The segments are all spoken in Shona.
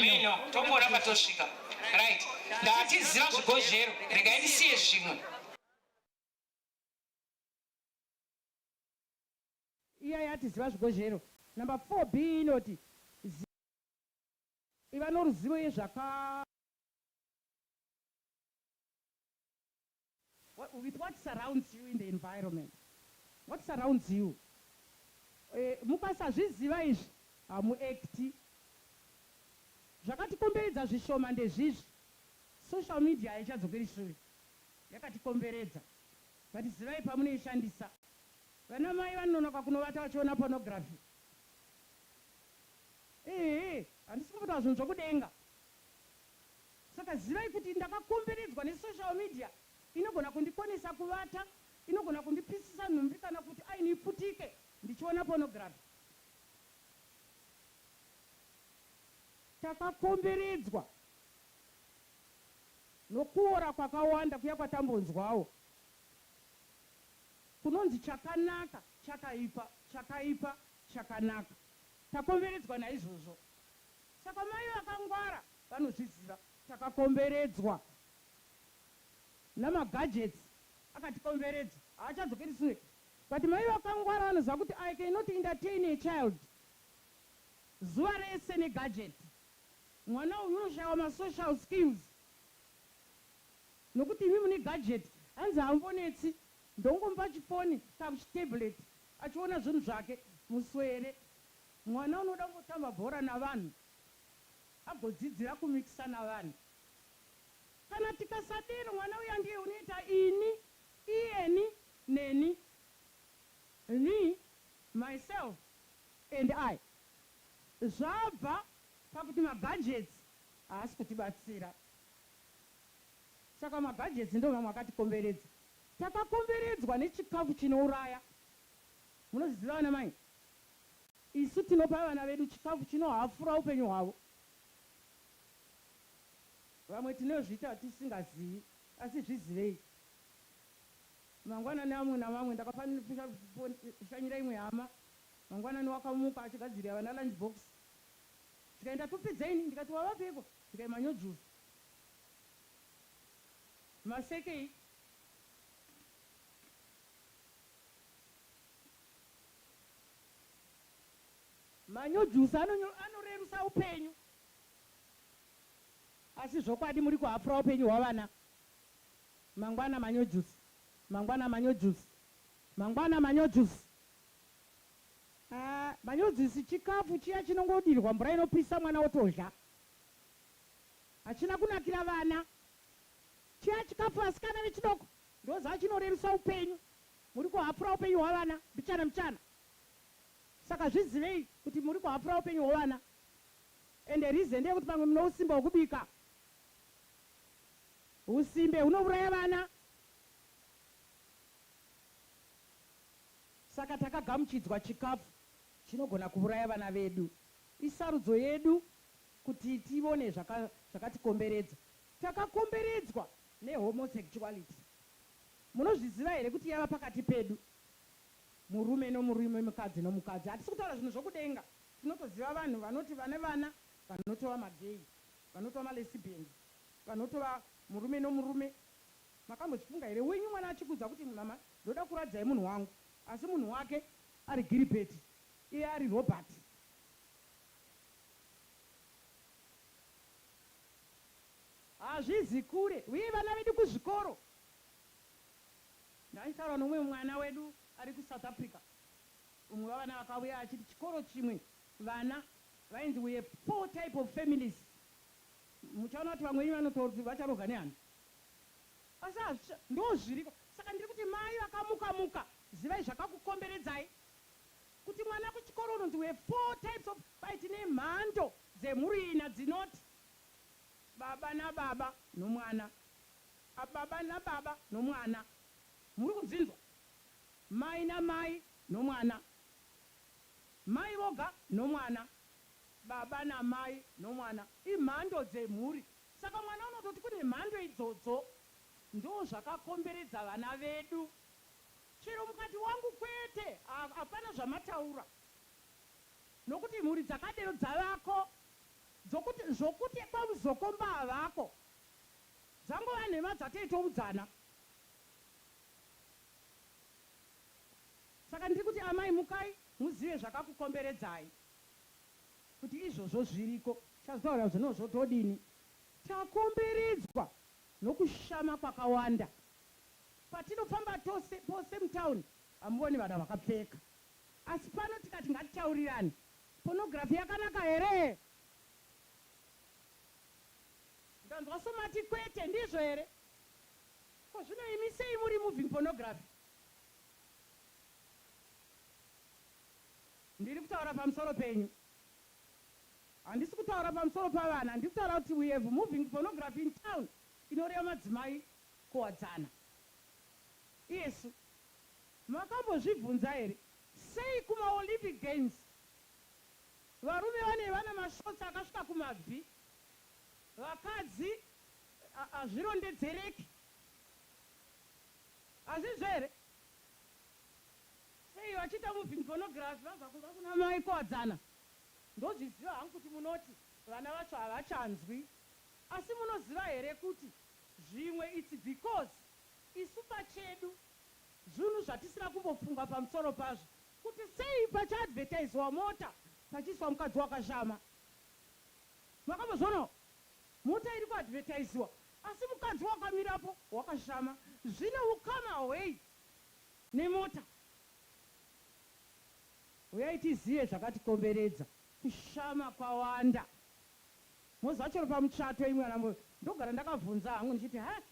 mino tombora patosvika right ndatiziva zvigozhero regai ndisiye zvimwe Iya yati ziva zvigozhero. Number 4B inoti zi. Iva noruzivo yezvaka. With what surrounds you in the environment. What surrounds you. E, mukasazviziva izvi hamuekti. Zvakatikomberedza zvishoma ndezvizvi. Social media haichadzokeri shure. yakatikomberedza but zivai pamunoishandisa. Vana mai vanonoka kunovata vachiona pornography ehe handisi kumboti vazonzwa kudenga saka zivai kuti ndakakomberedzwa ne social media inogona kundikonesa kuvata inogona kundipisisa nhumbi kana kuti aini iputike ndichiona pornography. Takakomberedzwa. Nokuora kwakawanda kuya kwatambonzwawo kunonzi chakanaka, chakaipa, chakaipa, chakanaka, takomberedzwa naizvozvo. Saka mai vakangwara vanozviziva. Takakomberedzwa namagadgets akatikomberedza. Haachadzokeri sure. But mai vakangwara vanoziva kuti I cannot entertain a child zuva rese negadget. Mwana uyu unoshaiwa ma social skills nokuti imi mune gadget hanzi haambonetsi ndongomupa chifoni kaku chitablet achiona zvinhu zvake muswere. Mwana unoda kungotamba bhora navanhu agodzidzira ku mixer navanhu. Kana tikasadero mwana uya ndiye unoita ini, iyeni, neni, me, myself and I. Zvabva pakuti maBudgets haasi kutibatsira. Saka maBudgets ndomamwe akatikomberedza. Takakomberedzwa nechikafu chinouraya. Munozviziva vana mai? Isu tinopa vana vedu chikafu chinohafura upenyu hwavo. Vamwe tinozviita tisingazivi asi zvizivei. Mangwanani amwe namamwe ndakafambira kushanyira imwe hama Mangwanani wakamuka achigadzirira vana lunch box zvikanzi ndakupedza ini ndikati wavapiko zvikanzi manyojuzi masekei manyojusi anonyo anorerusa upenyu asi zvokwadi muri kuhapfura upenyu hwavana mangwana manyojusi mangwana manyojusi mangwana manyojusi Ahh manyodzisi chikafu chiya chinongodirwa mvura inopisa mwana otodya. Hachina kunakira vana. Chiya chikafu vasikana vechidoko ndoziva chinorerusa upenyu. Muri kuhafura upenyu hwavana mbichana mbichana. Saka zvizivei kuti muri kuhafura upenyu hwevana. Ende reason ndeyekuti pamwe mune usimbe hwekubika. Husimbe hunovuraya vana. Saka takagamuchidzwa chikafu chinogona kuuraya vana vedu. Isarudzo yedu kuti tivone zvakatikomberedza. Takakomberedzwa nehomosexuality. Munozviziva here kuti yava pakati pedu, murume nomurume, mukadzi nomukadzi. Hatisi kutaura zvinhu zvokudenga. Tinotoziva vanhu vanoti vane vana vanotova magay, vanotova malesbians, vanotova murume nomurume. Makambochifunga here wenyu mwana achikuudza kuti mama Ndoda kuradzai munhu wangu asi munhu wake ari Giribheti iye ari Robhati. Hazvizi kure uye vana vedu kuzvikoro. Ndaitaura noumwe mwana wedu ari kuSouth Africa. Umwe wavana vakauya achiti chikoro chimwe vana vainzi we have four type of families. Muchaona kuti vamwe venyu vanototi vacharohwa nehana. Asi hazvisa ndozviriko saka ndiri kuti mai vakamuka muka zivai zvakakukomberedzai kuti mwana kuchikoro unonzi we four types of kwai tine mhando dzemhuri ina dzinoti baba nababa nomwana a baba nababa nomwana muri kudzinzwa mai namai nomwana mai voga nomwana baba namai nomwana imhando dzemhuri Saka mwana unototi kune mhando idzodzo ndozvakakomberedza vana vedu chero mukati wangu kwete apana zvamataura nokuti mhuri dzakadero dzavako dzokuti zvokuti kwaMuzokomba havako dzangova nhema dzatoitoudzana saka ndiri kuti amai mukai muzive zvakakukomberedzai. Kuti izvozvo zviriko chazotaura kuti no zvotodini. Takomberedzwa nokushama kwakawanda. Patinofamba tose pose mutown hamuoni vana vakapfeka. Asi pano tikati ngatitaurirane pornography yakanaka here? Ndanzwa somati kwete. Ndizvo here? Ko zvino imi sei muremoving pornography? Ndiri kutaura pamusoro penyu. Handisi kutaura pamusoro pavana. Ndiri kutaura kuti we have moving pornography in town inoreva madzimai kuwadzana. Iyesu. Makambozvibvunza here sei kuma Olympic games varume vane vana mashorts akasvika kumabvi vakadzi hazvirondedzereki. Hazvizvo here? Sei vachiita moving pornography vabva kumba kuna mai Kuwadzana ndozviziva hangu kuti munoti vana vacho havachanzwi asi munoziva here kuti zvimwe it's because isu pachedu zvunhu zvatisina kumbofunga pamusoro pazvo. Kuti sei pachi advertisewa mota pachiiswa mukadzi wakashama. Makambozvionawo mota iri ku advertisewa asi mukadzi wakamirapo wakashama. Zvine ukama hwei? Nemota. Huyai tizive zvakatikomberedza. Kushama kwawanda. Moziva chero pamuchato imwi ana Mbuya ndogara ndakabvunza hangu ndichiti haa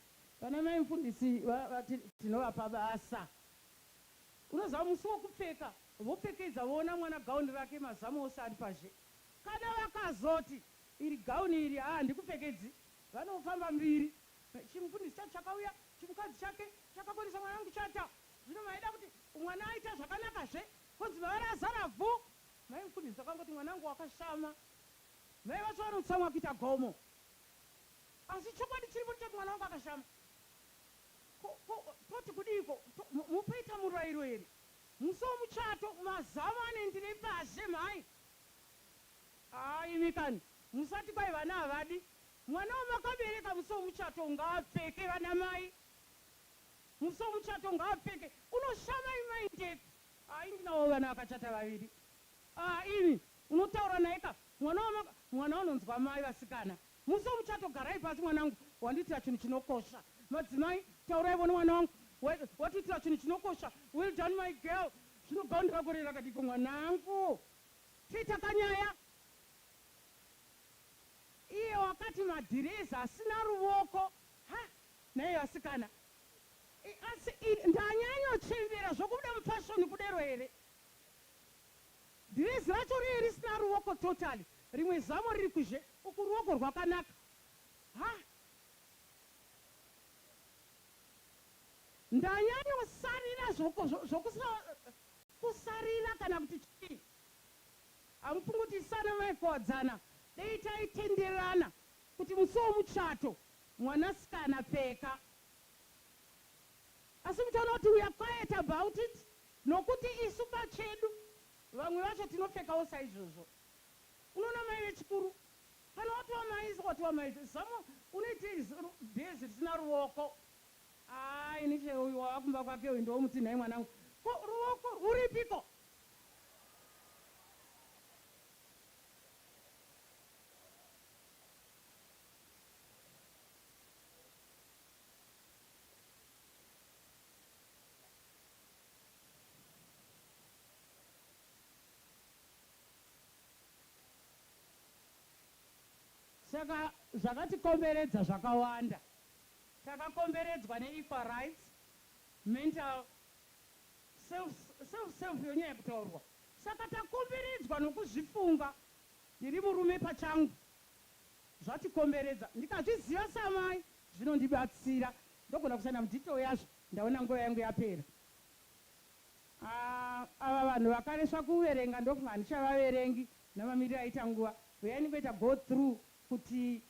vana mai mufundisi vati tinovapa basa. Unoziva musi wekupfeka vopfekedza voona mwana gown rake mazamu ose ari pazhe. Kana vakazoti iri gown iri haa handikupfekedzi vanofamba mbiri. Chimufundisi chacho chakauya, chimukadzi chake chakakonesa mwana wangu kuchata. Zvino maida kuti mwana aita zvakanaka zve, konzi baba razara vhu. Mai mufundisi vakangoti mwana wangu wakashama. Mai vacho vanotsamwa kuita gomo. Asi chokwadi chiripo ndechekuti mwana wangu akashama. Ko, ko, toti kudiiko? To, mu, mupaita murairo here? Musi womuchato, mazamu anoenderei pazhe, mhai? Haa imi kani, musati kwai vana havadi, Mwana wamakabereka musi wemuchato ngaapfeke vanamai musi wemuchato ngaapfeke unoshama imi mai Ndepi haa ini ndinawo vana vakachata vaviri haa imi unotaura naye ka mwana wamaka mwana unonzwa mai vasikana musi wemuchato garai pasi mwanangu wandiitira chinhu chinokosha madzimai tauraivo nemwana wangu wa, watiitira chinhu chinokosha well done my girl zvino gown rako rei rakadiko mwanangu tiita kanyaya Iye wakati madhirezi asina ruvoko ha nhai vasikana I, asi I, ndanyanyo chembera zvokubuda mufashoni kudero here dhirezi racho riye risina ruvoko totally rimwe zamo riri kuzhe uku ruoko rwakanaka ha ndanyanyo sarira zvoku, zvoku, zvokusa, kusarira kana kuti chii Amupungutisana maifowadzana dei taitenderana kuti musi wemuchato mwanasikana pfeka asi muchiona kuti we are quiet about it nokuti isu pachedu vamwe vacho tinopfekawo saizvozvo unoona mai vechikuru kana watova mai watova mai zamo unoitei bhezi risina ruoko haa ini chero uyu wava kumba kwake uyu ndomuti nhai mwanangu ko ruoko rwuripiko Saka zvakatikomberedza zvakawanda. Takakomberedzwa ne equal rights, mental Self self yonyaya kutaurwa saka takomberedzwa nokuzvifunga ndiri murume pachangu zvatikomberedza ndikazviziva samai zvinondibatsira ndogona kushanda mudetail yazvo ndaona nguva yangu yapera aah ava vanhu vakaresva kuverenga ndofunga handichavaverengi namamiriro aita nguva huyai ndingoita go through kuti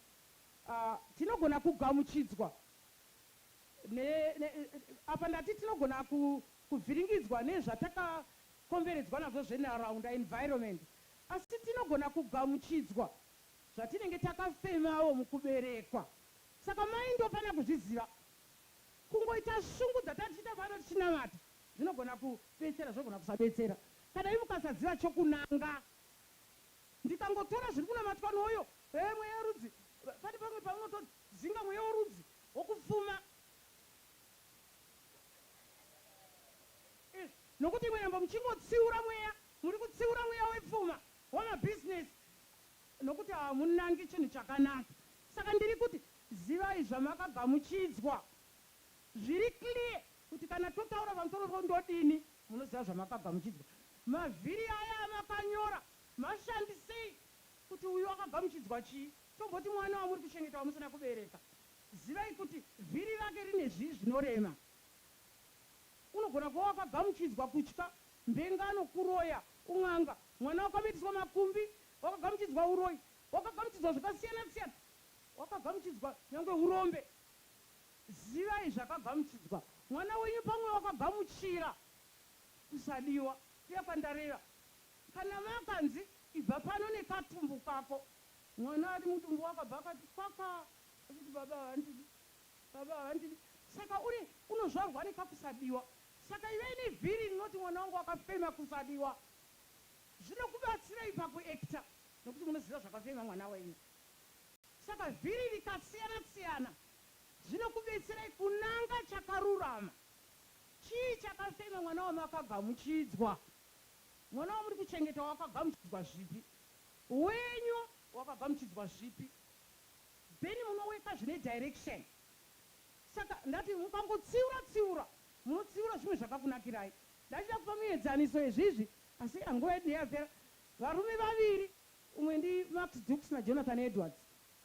aah tinogona kugamuchidzwa ne, ne, apa ndati tinogona ku, kuvhiringidzwa nezvatakakomberedzwa nazvo zvenharaunda, environment, asi tinogona kugamuchidzwa zvatinenge takafemawo mukuberekwa. Saka mai ndofanira kuzviziva. Kungoita shungu dzatatichiita pano tichinamata zvinogona kubetsera, zvinogona kusabetsera. Kana imi mukasaziva chokunanga, ndikangotora zviri kunamatwa noyo, hee mweya worudzi, pane pamwe paunotodzinga mweya worudzi. wokufuma, nokuti imwe nhambo muchingotsiura mweya, muri kutsiura mweya wepfuma, wamabhizinesi, nokuti hamunangi chinhu chakanaka. Saka ndiri kuti, zivai zvamakagamuchidzwa. Zviri clear kuti kana totaura pamusoro pondodini, munoziva zvamakagamuchidzwa. Mavhiri aya amakanyora, mashandisei kuti uyu akagamuchidzwa chii. Tomboti mwana wamuri kuchengeta wamusina kubereka, zivai kuti vhiri rake rine zvii zvinorema. Unogona kuva wakagamuchidzwa kutya, mbengano, kuroya, un'anga, mwana wakamitiswa makumbi, wakagamuchidzwa uroyi, wakagamuchidzwa zvakasiyana siyana, wakagamuchidzwa nyangwe urombe. Zivai zvakagamuchidzwa mwana wenyu pamwe wakagamuchira kusadiwa kuya kwandareva. Kana makanzi ibva pano nekatumbu kako Mwana ari mudumbu wakabva akati kwakwa achiti baba havandidi baba havandidi saka uri unozvarwa nekakusadiwa saka ive ini vhiri rinoti mwana wangu akafema kusadiwa zvinokubatsirei paku actor nekuti munoziva zvakafema mwana wenyu saka vhiri rikasiyana siyana zvinokubetserai kunanga chakarurama chii chakafema mwana wamakagamuchidzwa mwana wamuri kuchengeta wakagamuchidzwa zvipi Wenyu wakabva muchidzwa zvipi. Bennie munoweka zvine direction saka ndati mukangotsiura tsiura munotsiura zvimwe zvakakunakirai. Ndachida kupa muedzaniso yezvizvi asi yaa nguva yedu ndeyapera. Varume vaviri umwe ndi Max Dukes na Jonathan Edwards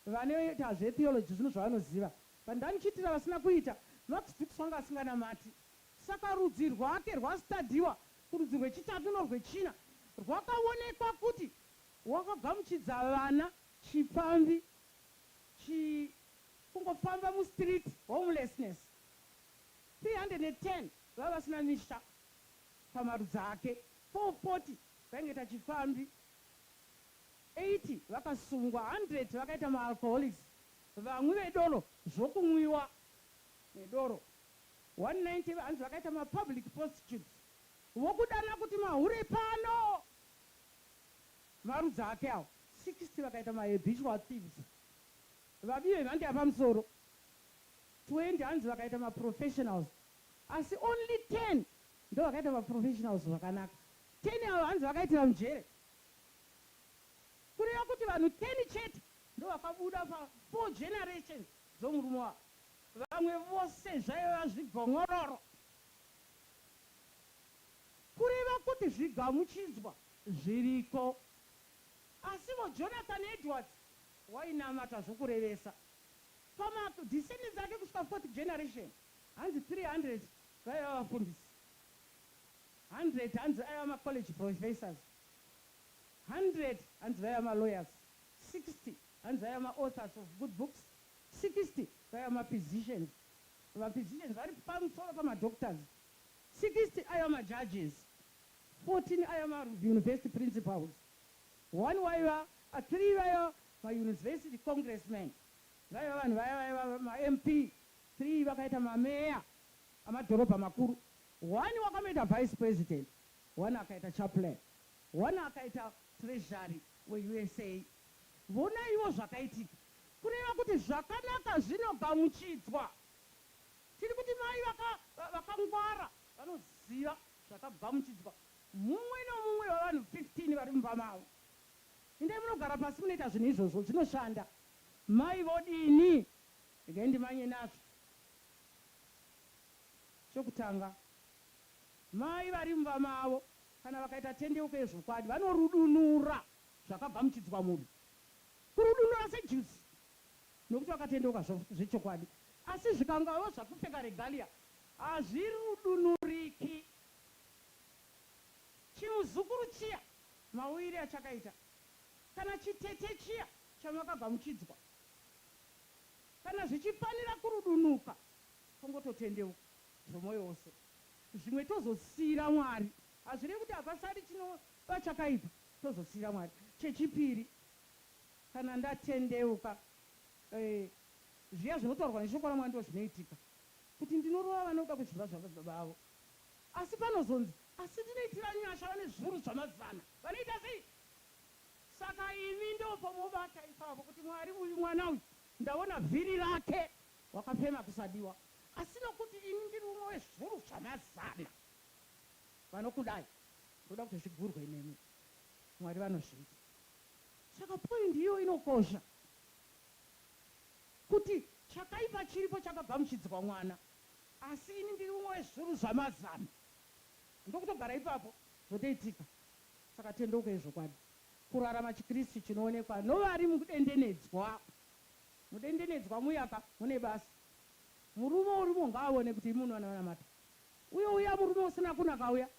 vanoita zve theology zvino zvavanoziva but ndanichiitira vasina kuita. Max Dukes wanga asinganamati Saka rudzi rwake rwaStadiwa kurudzi rwechitatu norwechina rwakaonekwa kuti rwakagamuchidza vana, chipfambi, chi, kungofamba mustreet, homelessness, 310 vaiva vasina misha pamarudzi ake, 440 vaingoita chipfambi, 80 vakasungwa, 100 vakaita maalcoholics, vamwi vedoro, zvokunwiwa nedoro, 190 hanzi vakaita ma public postutes vokudana kuti mahure pano marudzi ake awo. 60 vakaita ma habitual thieves vabii vemhando yapamusoro. 20 hanzi vakaita ma professionals asi only 10 ndovakaita ma professionals zvakanaka. 10 ava hanzi vakaitira mujere kureva kuti vanhu 10 chete ndovakabuda pa 4 generations. dzomurume wako vamwe vose zvaiva zvigonyoloro kureva kuti zvigamuchidzwa zviriko asivo Jonathan Edwards wainamata zvokurevesa pama descendants ake kusvika fourth generation hanzi 300 vaiva vafundisi 100 hanzi aiva ma college professors 100 hanzi vaiva ma lawyers 60 Hanzi aya ma authors of good books 60 vaiva ma physicians, ma physicians vari pamutsoro pama doctors 60 aiva ma judges, 14 aiva ma university principals, one waiva, three vaiva ma university congressmen, vaiva vanhu vaya vaiva ma MP, three vakaita ma mayor amadhorobha makuru, one wakamboita vice president, one akaita chaplain, one akaita treasury we usa Vonaiwo zvakaitika, kureva kuti zvakanaka zvinogamuchidzwa. Tiri kuti mai vaka, vakangwara vanoziva zvakagamuchidzwa mumwe nomumwe wevanhu 15 vari mumba mavo. Indai munogara pasi munoita zvinhu izvozvo, zvinoshanda. Mai vodini? Regai ndimanye nazvo. Chokutanga, mai vari mumba mavo kana vakaita tendeuko yezvokwadi, vanorudunura Zvakagamuchidzwa munhu kurudunura sejuzi nokuti wakatendeuka zvechokwadi, asi zvikangawo zvakupfeka regalia hazvirudunuriki. Chimuzukuru chiya mauyire achakaita, kana chitete chiya chamakagamuchidzwa, kana zvichifanira kurudunuka, tongototendeuka zvomoyo wose, zvimwe tozosiira Mwari. Hazvirevi kuti hapasari chinova chakaipa. Tozosiira Mwari. Chechipiri, kana ndatendeuka, eh, zviya zvinotaurwa neShoko raMwari ndizvo zvinoitika, kuti ndinorova vanoda kuzviva zvababa vavo. Asi panozonzi, Asi ndinoitira nyasha vane zviuru zvamazana. Vanoita sei? Saka imi ndopomobata ipapo, kuti, Mwari, uyu mwana uyu, ndaona vhiri rake, wakafema kusadiwa, asi nokuti ini ndiri umwe wezviuru zvamazana vanokudai, Ndoda kuti zvigurwe nemi. Mwari vanozviita. Saka point iyo inokosha kuti chakaipa chiripo chakagamuchidzwa mwana asi ini ndiri umwe wezviuru zvamazana ndokutogara ipapo zvotoitika. Saka tendeuka yezvokwadi. Kurarama chiKristu chinoonekwa novari mukudendenedzwa. Mudendenedzwa muya ka mune basa. Murume urimo ngaawone kuti imi munowanamata. Uye uya murume usina kunaka uya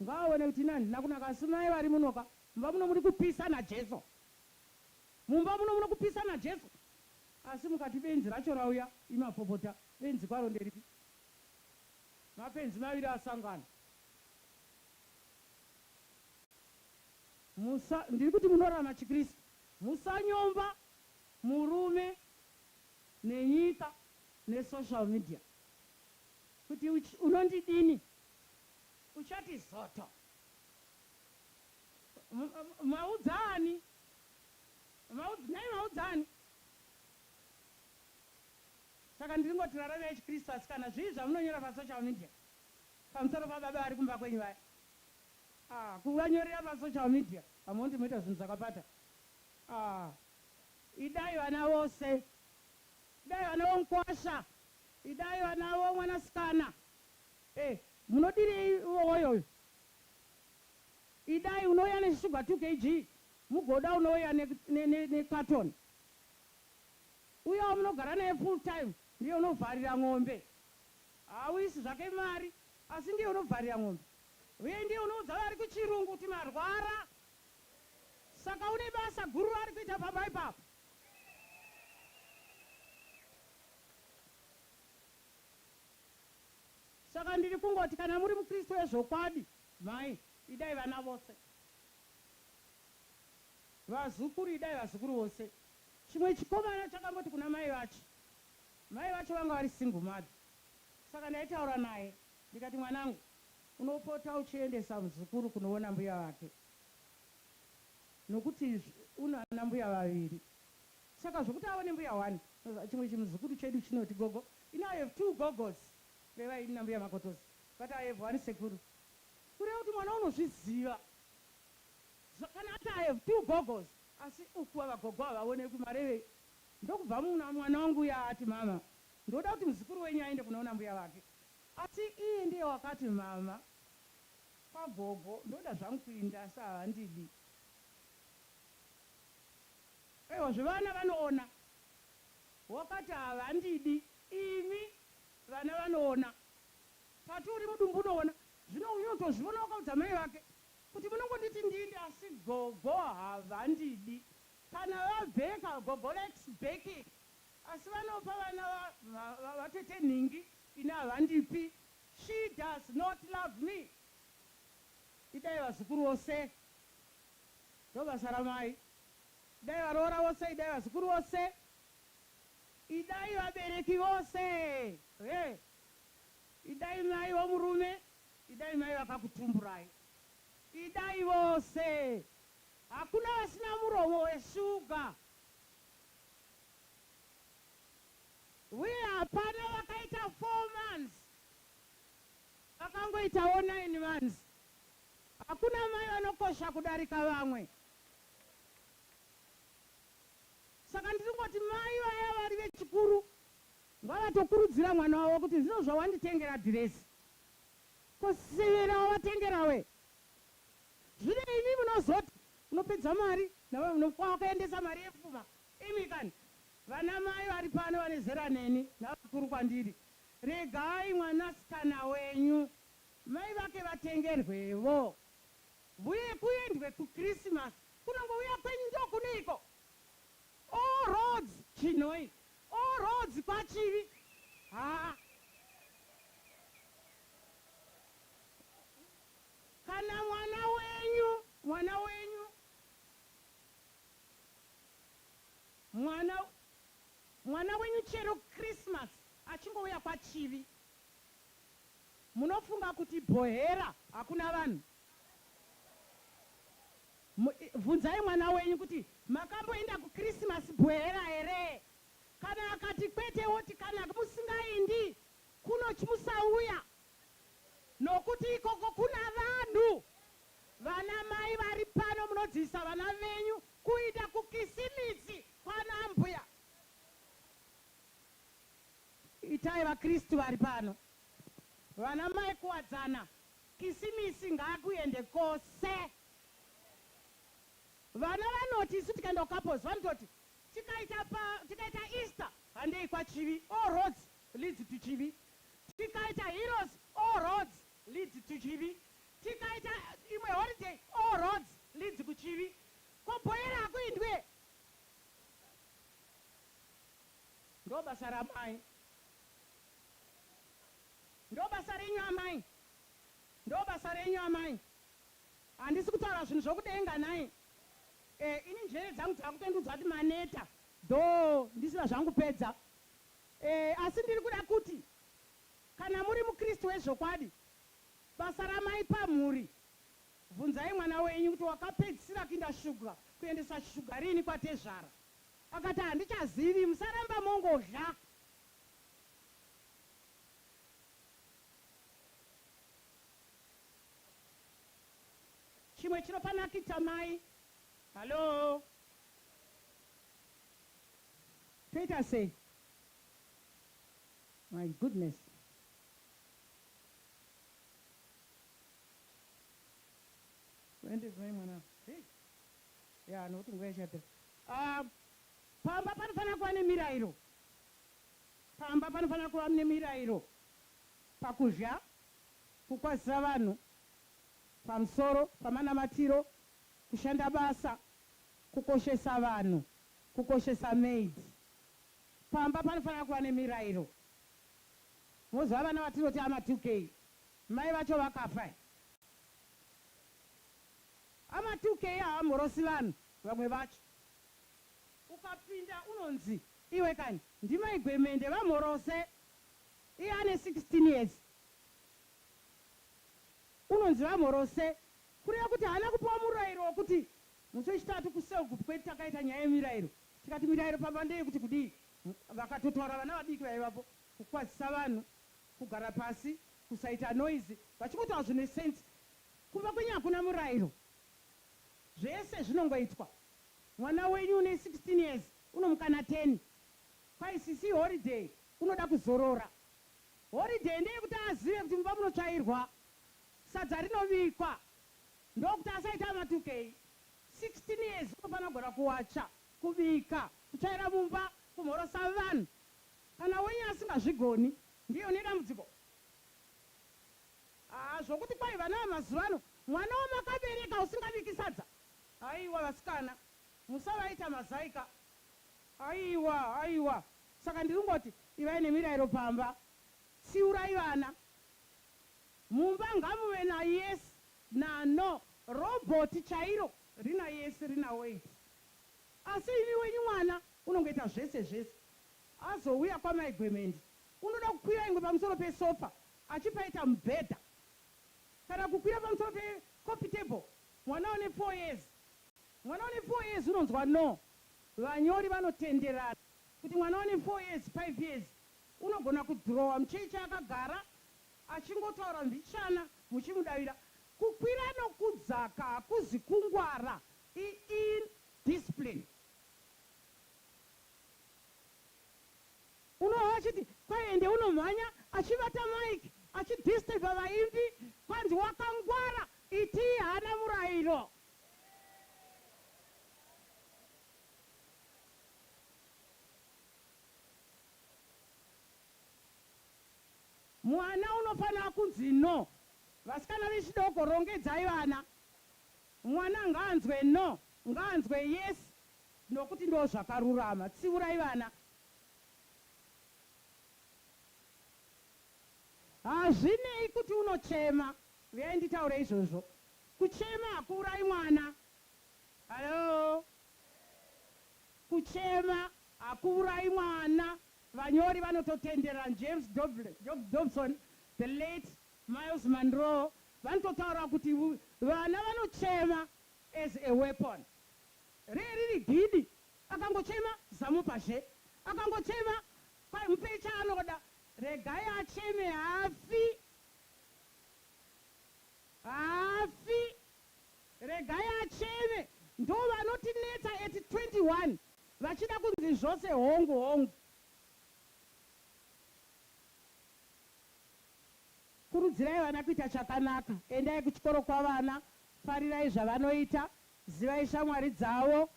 Ngaaone kuti ini handina kunaka asi mai vari muno ka mumba muno muri kupisa naJesu mumba muno muno kupisa naJesu asi mukati benzi racho rauya imapopota benzi kwaro nderipi mapenzi maviri asangana musa ndiri kuti munorama chiKristu musanyomba murume nenyika nesocial media kuti unondidini Uchati zoto. Maudza ani? Nhai maudza ani? Saka ndiringoti rarave yechiKristu asi kana zvii zvamunonyora pasocial media pamusoro pababa vari kumba kwenyu vaya ah kuvanyorera pasocial media hamuoni kuti moita zvinhu zvakapata ah idai vana vose idai vana vomkwasha idai vana vomwanasikana Hey munodirei woyo uyu. Idai unouya ne sugar 2 kg mugoda unouya ne carton. Uya wamunogara naye full time ndiye unovharira n'ombe. Haauisi zvake mari asi ndiye unovharira n'ombe. Uye ndiye unoudza vari kuchirungu kuti marwara. Saka une basa guru raari kuita pamba ipapo. Saka ndiri kungoti kana muri muKristu wezvokwadi, mhai, idai vana vose. Vazukuru, idai vazukuru vose. Chimwe chikomana chakangoti kuna mai vacho, mai vacho vanga vari single mother, saka ndaitaura naye ndikati, Mwanangu, unopota uchiendesa muzukuru kunoona mbuya vake, nokuti una anambuya vaviri. Saka zvekuti avo nembuya one chimwe chinhu zukuru chedu chinoti gogo you know I have two gogos kureva ini nambuya Makotoza but I have one sekuru kureva kuti mwana unozviziva so kana ati I have two gogos asi uku ava gogo havaonekwi marevei ndokubva mwana wangu uya ati mama ndoda kuti muzukuru wenyu aende kunoona mbuya vake asi iye ndiye wakati mama kwagogo ndoda zvangu kuinda asi havandidi. Aiwa zve vana vanoona. Wakati havandidi imi vana vanoona pati uri mudumbu unoona zvino uyu otozviona wakaudza mai vake kuti munongonditi ndini asi gogo havandidi kana vabheka gogo likes backing asi vanopa vana va vatete nhingi ini havandipi she does not love me idai vazukuru vose ndobasa ramai. Idai varoora vose idai vazukuru vose idai vabereki vose hee idai mai vomurume idai mai vakakutumburai idai vose hakuna vasina muromo weshuga huye hapana vakaita four months vakangoitawo nine months hakuna mai vanokosha kudarika vamwe Saka ndiri kungoti mai vaya vari vechikuru ngavatokurudzira mwana wavo kuti zvino zvawanditengera dhirezi ko severa wavatengerawe zvino imi munozoti unopedza mari nawe unofwa wakaendesa mari yepfuma imi kani vana mai vari pano vane zera neni navakuru kwandiri regai mwanasikana wenyu mai vake vatengerwevo. Mbuya ekuendwe ku Christmas kunongouya kwenyu ndokuneiko all roads Chinhoyi all roads kwaChivi haa kana mwana wenyu mwana wenyu mwana mwana wenyu chero Christmas achingouya kwaChivi munofunga kuti Bhohera hakuna vanhu. Bvunzai mwana wenyu kuti, Makamboenda kuKrisimasi bwehera here? Kana akati kwete, woti, Kana musingaindi kunochi musauya, nokuti ikoko kuna vanhu. Vanamai vari pano munodzidzisa vana venyu kuinda kuKisimitsi kwanaambuya. Itai vaKristu vari pano vanamai kuwadzana. Kisimisi ngaakuende kose. Vana vanoti isu tikaenda kuCouples vanototi tikaita pa tikaita Easter handei kwaChivi all roads leads to Chivi, tikaita Heroes all roads leads to Chivi, tikaita imwe holiday all roads leads kuChivi. Ko bhoyera hakuindwe? Ndobasa ramai. Ndobasa renyu amai ndobasa renyu amai handisi kutaura zvinhu zvokudenga nhai eh ini njere dzangu dzakutondiudza kuti maneta though ndisina zvangupedza eh asi ndiri kuda kuti kana muri mukristu wezvokwadi basa ramai pamhuri bvunzai mwana wenyu kuti wakapedzisira kuinda shuga kuendeswa shuga riini kwatezvara akati handichazivi musaramba mongodla Chimwe chinopanakidza mai. Hallo. Toita sei? My goodness. Wende zimai mwana. Hey. Ya, nokuti nguva ichapera. Ah, pamba panofanira kuva nemirairo. Pamba panofanira kuva mune mirairo pakuzha kukwazisa vanhu pamsoro pamanamatiro, kushanda basa, kukoshesa vanhu, kukoshesa maid. Pamba panofanira kuva nemirairo. Moziva vana vatinoti ama 2K mai vacho vakafa eh. Ama 2K havamborosi vanhu vamwe vacho. Ukapinda unonzi iwe kani ndimai gwemende vamhorose iye ane 16 years unonzi vamhorose kureva kuti haana kupiwa murairo wekuti musi wechitatu kuselgroup kwedu takaita nyaya yemirairo tikati mirairo pamba ndeyekuti kudii vakatotaura vana vadiki vaivapo kukwazisa vanhu kugara pasi kusaita noise vachingotaura zvine sense kumba kwenyu hakuna murairo zvese zvinongoitwa Mwana wenyu une 16 years unomukana 10 Kwai sisi holiday unoda kuzorora Holiday ndeyekuti azive kuti mumba munotsvairwa Sadza rinobikwa ndokuti asaita matukei 16 years unofanira kugona kuwacha, kubika, kutsvaira mumba, kumhorosa vanhu Kana wenyu asingazvigoni ndiye une dambudziko Haa zvokuti kwai vana vamazuvano mwana wamakabereka usingabiki sadza Haiwa vasikana musavaita mazai ka. Haiwa haiwa saka ndirikungoti ivai nemirairo pamba tsiurai vana mumba ngamuve na yes na no robot chairo. Rina yes rina wait asi imi wenyu mwana unongoita zvese zvese azouya kwamai gwemende unoda kukwira ingwe pamusoro pe sofa achipaita mubhedha kana kukwira pamusoro pe coffee table Mwana une four years Mwana une four years unonzwa no Vanyori vanotenderana kuti mwana une four years, five years unogona kudhirowa mucheche akagara achingotaura mbichana muchimudavira Kukwira nokudzaka hakuzi kungwara i in discipline Unohwa vachiti kwai ende unomhanya achibata mic achidisturber vaimbi kwanzi wakangwara Iti haana murairo. Mwana unofanira kunzi no. Vasikana vechidoko rongedzai vana. Mwana ngaanzwe no, ngaanzwe yes nokuti ndozvakarurama. Tsiurai vana. Hazvinei kuti unochema. Huyai nditaure izvozvo. Kuchema hakuurayi mwana. Hallo. Kuchema hakuurayi mwana. Vanyori vanototenderera James Dobson, the late Myles Munroe vanototaura kuti vana vanochema as a weapon. Ree riri didi. Akangochema zamupa zve. Akangochema kwai mupei chaanoda. Regai acheme haafi. Haafi regai acheme ndovanotinetsa at 21 vachida kunzi zvose hongu hongu. Kurudzirai vana kuita chakanaka endai kuchikoro kwavana farirai zvavanoita zivai shamwari dzavo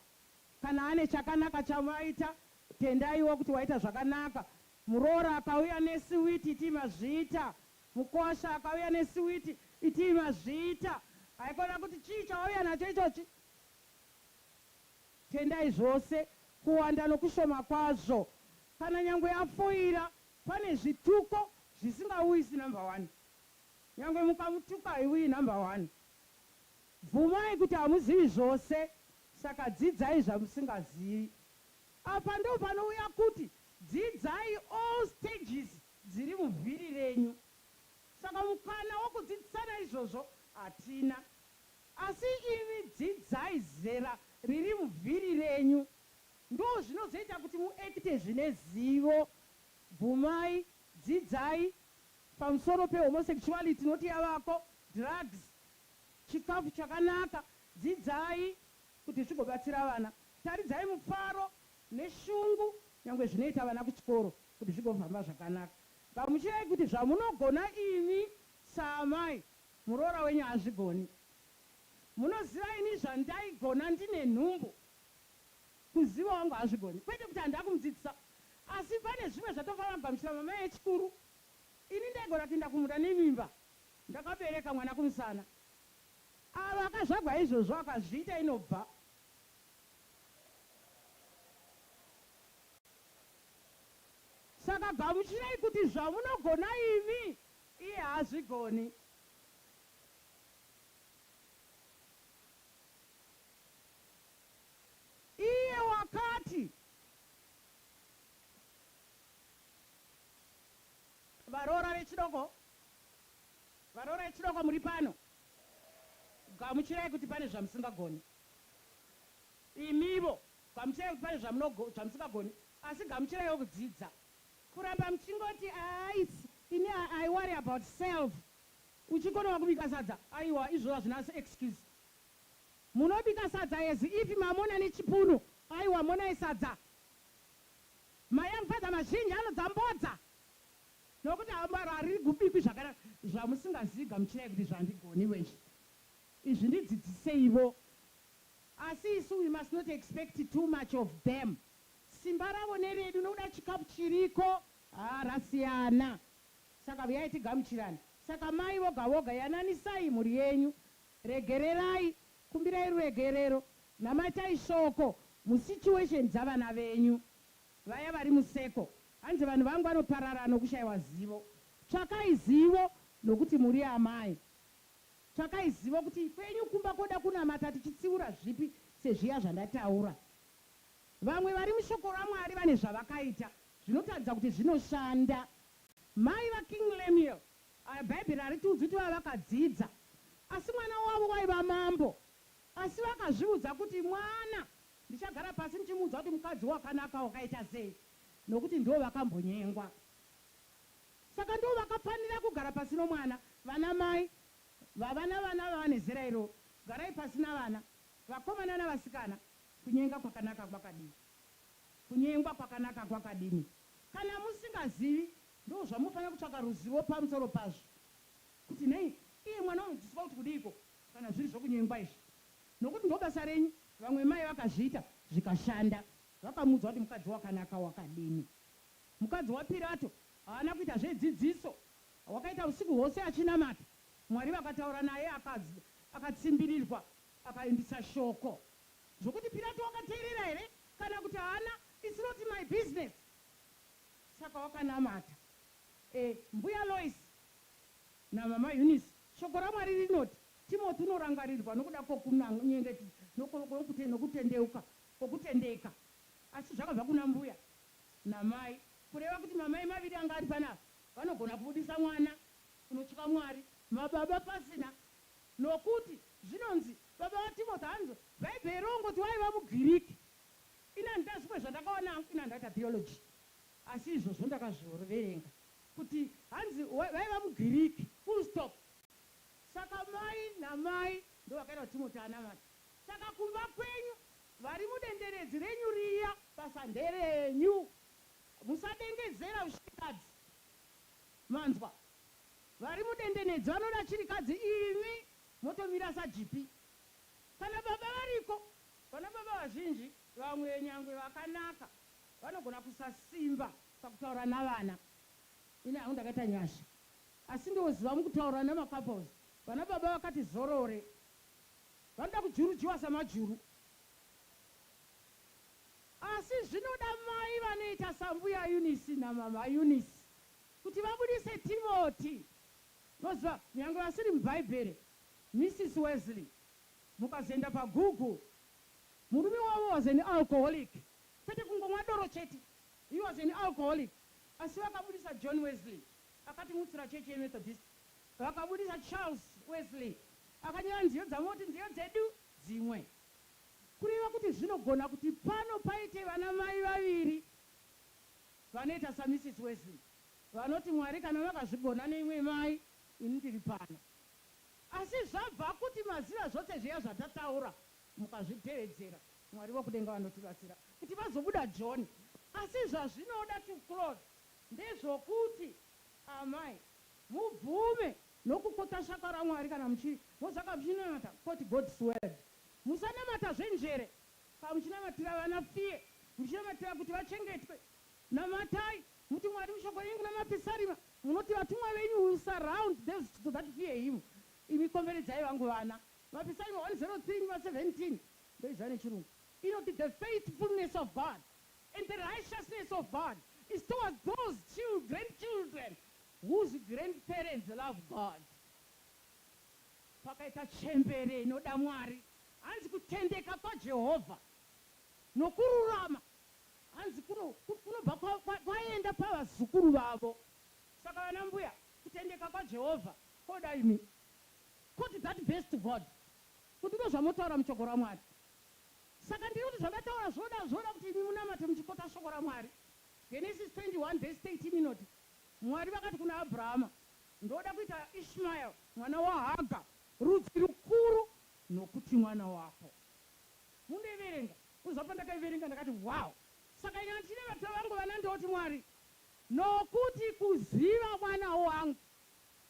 kana ane chakanaka chavaita tendaiwo kuti waita zvakanaka Muroora akauya nesiwiti itii mazviita. Mukosha akauya nesiwiti itii mazviita. Haikona kuti chii chawauya nacho ichochi? Tendai zvose, kuwanda nokushoma kwazvo. Kana nyangwe afoira, pane zvituko zvisingauyisi number one. Nyangwe mukamutuka haiuyi number one. Bvumai kuti hamuzivi zvose, saka dzidzai zvamusingazivi. Apa ndopanouya kuti dzidzai all stages dziri muvhiri renyu. Saka mukana wokudzidzisana izvozvo hatina. Asi imi dzidzai zera riri muvhiri renyu. Ndozvinozoita kuti mu acte zvine zivo. Bvumai, dzidzai pamusoro pe homosexuality not yavako, drugs, chikafu chakanaka, dzidzai Kuti tigobatsira vana, taridzai mufaro neshungu nyangwe zvinoita vana kuchikoro kuti zvigofamba zvakanaka. Gamuchirai kuti zvamunogona imi saamai, muroora wenyu haazvigoni. Munoziva ini zvandaigona ndine nhumbu, kuziva wangu haazvigoni. Kwete kuti handina kumudzidzisa asi pane zvimwe zvatofanira kugamuchira mamai echikuru. Ini ndaigona kuinda kumunda nemimba ndakabereka mwana kumusana. Avo akazvagwa izvozvo akazviita inobva. Saka gamuchirai kuti zvamunogona imi iye haazvigoni. Iye wakati. Varoora vechidoko Varoora vechidoko muri pano? Gamuchirai kuti pane zvamusingagoni. Imivo, gamuchirai kuti pane zvamunogo, zvamusingagoni. Asi gamuchiraiwo kudzidza. Kuramba muchingoti aais ini I, I worry about self. Uchikonawo kubika sadza? Aiwa, izvozvo hazvina excuse. Munobika sadza as if mamona nechipunu. Aiwa, monai sadza. Mai amufadza mazhinji anodza mbodza. Nokuti harigubikwi zvakadaro zvamusingazivi gamuchirai kuti zvandigoniwe izvi izvi ndidzidziseivo asi isu we must not expect too much of them simba ravo neredu nokuda chikafu chiriko haa rasiyana saka vuyai tigamuchirane saka mai voga voga yananisai mhuri yenyu regererai kumbirai ruregerero namatai shoko musituation dzavana venyu Vaya vari museko. Hanzi vanhu vangu vanoparara nokushaiwa zivo. Tsvakai zivo nokuti muri amai. Tsvakai zivo kuti kwenyu kumba koda kunamata tichitsiura zvipi sezviya zvandataura. Vamwe vari mushoko raMwari vane zvavakaita zvinotaridza kuti zvinoshanda. Mai vaKing Lemuel aya Bhaibheri haritiudzi kuti vaiva vakadzidza asi mwana wavo waiva mambo asi vakazviudza kuti mwana Ndichagara pasi ndichimuudza kuti mukadzi wakanaka wakaita sei nokuti ndivo vakambonyengwa saka ndivo vakafanira kugara pasi nomwana. Vana mai vavana vana vava nezera iroro garai pasi navana vakomana navasikana kunyenga kwakanaka kwakadii kunyengwa kwakanaka kwakadini kana musingazivi ndozvamunofanira kutsvaka ruzivo pamusoro pazvo kuti nei iye mwana unodzidziswa kuti kudiiko kana zviri zvokunyengwa izvi Nokuti ndobasa renyu vamwe mai vakazviita zvikashanda. Vakamuudza kuti mukadzi wakanaka wakadini. Mukadzi waPirato haana kuita zvedzidziso wakaita usiku hwose achinamata Mwari vakataura naye akatsimbirirwa akaendisa shoko. Zvokuti Pirato wakateerera here kana kuti haana it's not my business saka wakanamata. Eh mbuya Loice NaMama Eunice. Shoko raMwari rinoti, Timoti unorangarirwa nokuda kwokunyengetedza nokutendeuka kwokutendeka. Asi zvakabva kuna mbuya namai, kureva kuti mamai maviri anga ari pano apa vanogona kubudisa mwana unotya Mwari. Mababa pasina, nokuti zvinonzi baba vaTimoti hanzi Bhaibheri rongoti vaiva muGiriki. Ini handina zvimwe zvandakawana hangu, ini handaita theology, asi izvozvo ndakazviverenga. Kuti hanzi vaiva mugiriki full stop. Saka mai namai ndovakaita kuti Timoti anamate. Saka kumba kwenyu varimudenderedzi renyu riya basa nderenyu. Musadengezera vshirikadzi manzwa. Varimudendenedzi vanoda chirikadzi imi motomira sajipi. Kana baba variko. Vanababa vazhinji vamwe nyangwe vakanaka vanogona kusasimba. Pakutaura navana ini hangu ndakaita nyasha asi ndoziva mukutaura nema couples vana baba vakati zorore vanoda kujurujiwa samajuru asi zvinoda mai vanoita sambuya Eunice namama Eunice kuti vabudise Timoti moziva nyange vasiri mubhaibheri Missis Wesley mukazoenda pa Google murume wavo was an alcoholic kwete kungomwa doro chete He was an alcoholic asi vakabudisa John Wesley akatimutsira chechi yeMethodist. Vakabudisa Charles Wesley akanyora nziyo dzavo voti nziyo dzedu dzimwe. Kureva kuti zvinogona kuti pano paite vana mai vaviri vanoita saMrs Wesley vanoti Mwari kana vakazvigona neimwe mai ini ndiri pano. Asi zvabva kuti maziva zvose zviya zvatataura. Mukazvitevedzera, Mwari vokudenga vanotibatsira kuti vazobuda joni. Asi zvazvinoda to close ndezvokuti amai mubvume nokukota shaka raMwari kana muchiri mozaka muchinamata quote God's word. Musanamata zvenjere ka muchinamatira vana fear muchinamatira kuti vachengetwe. Namatai muti Mwari mushoko renyu kuna mapisarima munoti vatumwa venyu will surround those that fear him imi komberedzai vangu vana. Papisaimi 103 vhasi 17 ndoiziva nechirungu inoti the faithfulness of God and the righteousness of God is towards those children children whose grandparents love God pakaita chembere inoda Mwari hanzi kutendeka kwaJehovha nokururama hanzi kuno kunobva kwaenda pavazukuru vavo saka vana mbuya kutendeka kwaJehovha koda imi Could that best God kuti ndozvamotaura muchoko raMwari saka ndiri kuti zvandataura zvinoda zvinoda kuti imi munamate muchikota shoko raMwari Genesis 21 vhesi 13 inoti Mwari vakati kuna Abrahama ndoda kuita Ishmael mwana waHaga rudzi rukuru nokuti mwana wako Mundoiverenga kuzva pandakaiverenga ndakati wow saka ini handine vatova vangu vana ndoti Mwari nokuti kuziva mwana wangu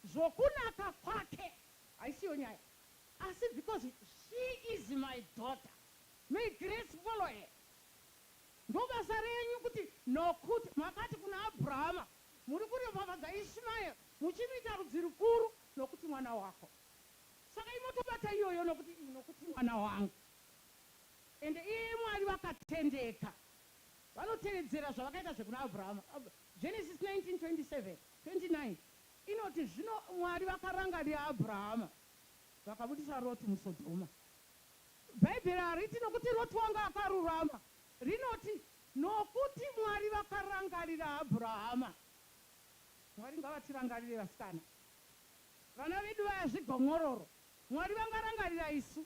Zvokunaka kwake haisiyo nyaya asi because she is my daughter. May grace follow her. Ndobasa renyu kuti nokut makati kuna Abrahama muri kuropafadza Ishmael muchimuita rudzi rukuru nokuti mwana wako. Saka imotobata iyoyo nokuti iyi nokuti mwana wangu. Ende iyeye Mwari vakatendeka vanotevedzera zvavakaita zvekuna Abrahama. Genesis 19:27, 29. Inoti, Zvino Mwari vakarangarira Abrahama, vakabudisa Roti muSodhoma. Bhaibheri hariti nokuti Roti wanga akarurama. Rinoti, Nokuti Mwari vakarangarira Abrahama. Mwari ngavatirangarire vasikana. Vana vedu vaya zvigomwororo. Mwari vangarangarira isu.